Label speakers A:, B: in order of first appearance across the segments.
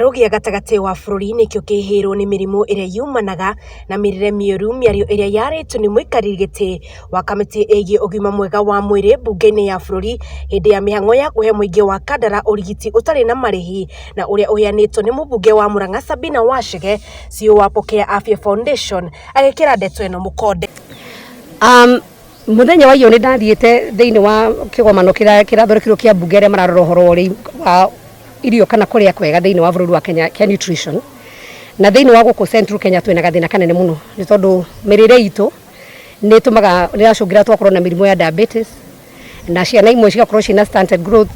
A: rũgĩa gatagatĩ wa bũrũri nĩkĩo kĩhĩirwo nĩ mĩrimũ ĩrĩa yumanaga na mĩrĩre mĩũru mĩario ĩrĩa yarĩtwo nĩ mũikarĩri gĩtĩ wa kamĩtĩ ĩgiĩ ũgima mwega wa mwĩrĩ mbunge-inĩ ya bũrũri hĩndĩ ya mĩhang'o ya kũhe mũingĩ wa Kandara ũrigiti ũtarĩ na marĩhi na ũrĩa ũheanĩtwo nĩ mũmbunge wa Murang'a Sabina Wachige CEO wa Pokea Afya Foundation agĩkĩra ndeto ĩno mũkonde.
B: Mũthenya wa iyo nĩ ndathiĩte thĩinĩ wa kĩgomano kĩrĩa kĩrathondekirwo kĩa mbunge arĩa mararora ũhoro wa ũrĩi wa irio kana kũrĩa kwega thĩinĩ wa bũrũri wa Kenya kĩa nutrition. Na thĩinĩ wa gũkũ Central Kenya twĩna gathĩna kanene mũno nĩ tondũ mĩrĩre itũ nĩ ĩtũmaga nĩ ĩracũngĩrĩra tũgakorwo na mĩrimũ ya diabetes na ciana imwe cigakorwo ciĩna stunted growth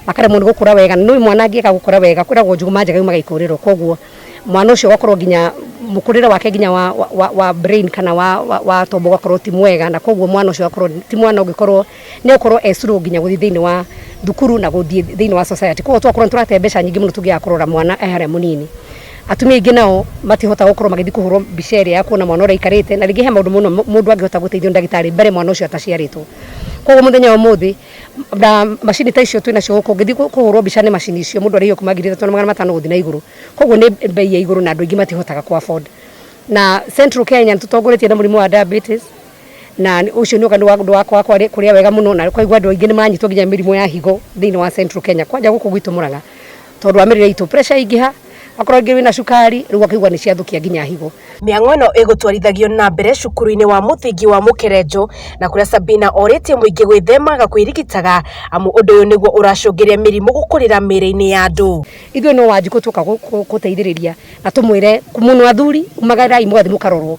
B: makaremwo nĩ gũkũra wega. Na nĩ ũĩ mwana angĩaga gũkũra wega kwĩragwo njũgũma njega yumaga ikũrĩro. mwana ũcio ũgakorwo nginya mũkũrĩre wake nginya wa, wa, wa, wa brain kana wa, wa, wa tombo ũgakorwo ti mwega na koguo mwana ũcio agakorwo ti mwana ũngĩkorwo nĩ ũkorwo esirwo nginya gũthiĩ thĩinĩ wa thukuru na gũthiĩ thĩinĩ wa society koguo twakorwo nĩ tũrate mbeca nyingĩ mũno tũngĩaga kũrora mwana e harĩa mũnini atumia aingĩ nao matihota gũkorwo magĩthiĩ kũhũrwo mbica ĩrĩa ya kuona mwana ũrĩa aikarĩte na rĩngĩ he maũndũ mũno mũndũ angĩhota gũteithio nĩ ndagĩtarĩ mbere mwana ũcio ataciarĩtwo koguo mũthenya wa ũmũthĩ na macini ta icio twĩnacio gũkũ ngĩthiĩ kũhũrwo mbica nĩ macini icio mũndũ arĩhio kuma ngiri ithatũ na magana matano gũthiĩ na igũrũ koguo nĩ mbei ya igũrũ na andũ aingĩ matihotaga kũ afford na Central Kenya nĩ tũtongoretie na mũrimũ wa diabetes na ũcio nĩ ũndũ wa kwaga kũrĩa wega mũno na koguo andũ aingĩ nĩ maranyitwo nginya nĩ mĩrimũ ya higo thĩinĩ wa Central Kenya kwanja gũkũ gwitũ Mũrang'a. tondũ wa mĩrĩre itũ pressure ingĩha akorwo rĩngĩ wĩna cukari rĩu akaigua nĩ ciathũkia nginya higo Mĩang'o ĩno
A: ĩgũtwarithagio na mbere cukuru-inĩ wa mũthingi wa Mũkerenjũ na kũrĩa Sabina orĩtie mũingĩ gwĩthemaga kwĩrigitaga amu ũndũ ũyũ nĩguo ũracũngĩrĩria mĩrimũ gũkũrĩra mĩĩrĩ-inĩ ya andũ. Ithuĩ no wanjikũ twoka
B: gũteithĩrĩria na tũmwĩre mũno athuri umagarai mũgathiĩ mũkarorwo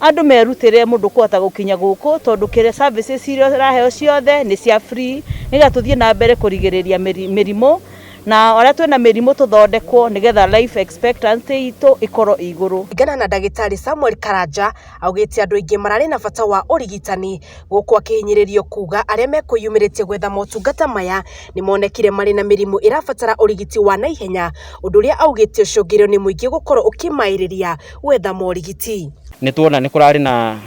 C: Andũ merutĩre mũndũ kũhota gũkinya gũkũ tondũ kĩrĩa services iria ũraheo ciothe nĩ cia free nĩgetha tũthiĩ na mbere kũrigĩrĩria mĩrimũ na arĩa twĩna mĩrimũ tũthondekwo nĩgetha life expectancy itũ ĩkorwo ĩ igũrũ. Kũringana na ndagĩtarĩ
A: Samuel Karanja, augĩte andũ aingĩ mararĩ na bata wa ũrigitani, gũkũ akĩhinyĩrĩrio kuga arĩa mekwĩyumĩrĩtie gwetha motungata maya nĩmonekire marĩ na mĩrimũ ĩrabatara ũrigiti wa naihenya, ũndũ ũrĩa augĩte ũcũngĩrĩirio nĩ mũingĩ gũkorwo ũkĩmaĩrĩria. gwetha morigiti. Nĩ tuona nĩ kũrarĩ
D: na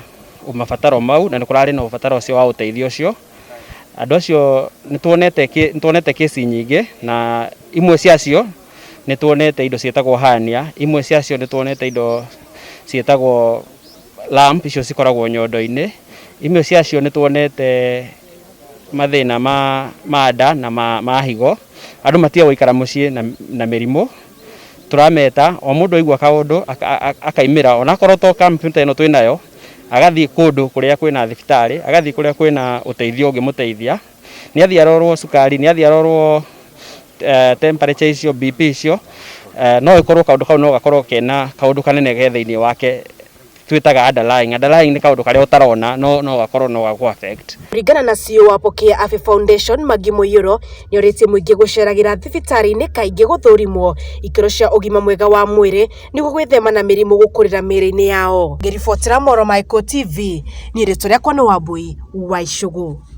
D: mabataro mau na nĩ kũrarĩ na ũbataro ũcio wa ũteithio ũcio. Andũ acio nĩ tuonete, nĩ tuonete case nyingĩ na imwe ciacio nĩ tuonete indo ciĩtagwo hernia, imwe ciacio nĩ tuonete indo ciĩtagwo lump icio cikoragwo nyondo-inĩ, imwe ciacio nĩ tuonete mathĩna ma, ma nda na ma, ma higo. Andũ matiga gũikara mũciĩ na, na mĩrimũ. tũrameta o mũndũ aigua kaũndũ akaimĩra onakorwo to kampu ta ĩno twĩnayo agathiĩ kũndũ kũrĩa kwĩna thibitarĩ agathiĩ kũrĩa kwĩna ũteithio ũngĩmũteithia nĩathiĩ arorwo cukari nĩathiĩ arorwo eh, temperature icio BP icio eh, no ĩkorwo kaũndũ kau no gakorwo kena kaũndũ kanene ge thĩinĩ wake twĩtaga underlying. Underlying nĩ kaũndũ karĩa ũtarona no no gakorwo no gagũ affect. Kũringana na CEO wa
A: Pokea Afya Foundation, Maggie Mũiyũro, nĩorĩtie mũingĩ gũceragĩra thibitarĩ-inĩ kaingĩ gũthũrimwo ikĩro cia ũgima mwega wa mwĩrĩ nĩguo gwĩthema na mĩrimũ gũkũrĩra mĩĩrĩ-inĩ yao. Ngĩribotera Mohoro ma Ĩkũũ TV, niĩ rĩtwa rĩakwa nĩ Wambũi wa Icũgũ.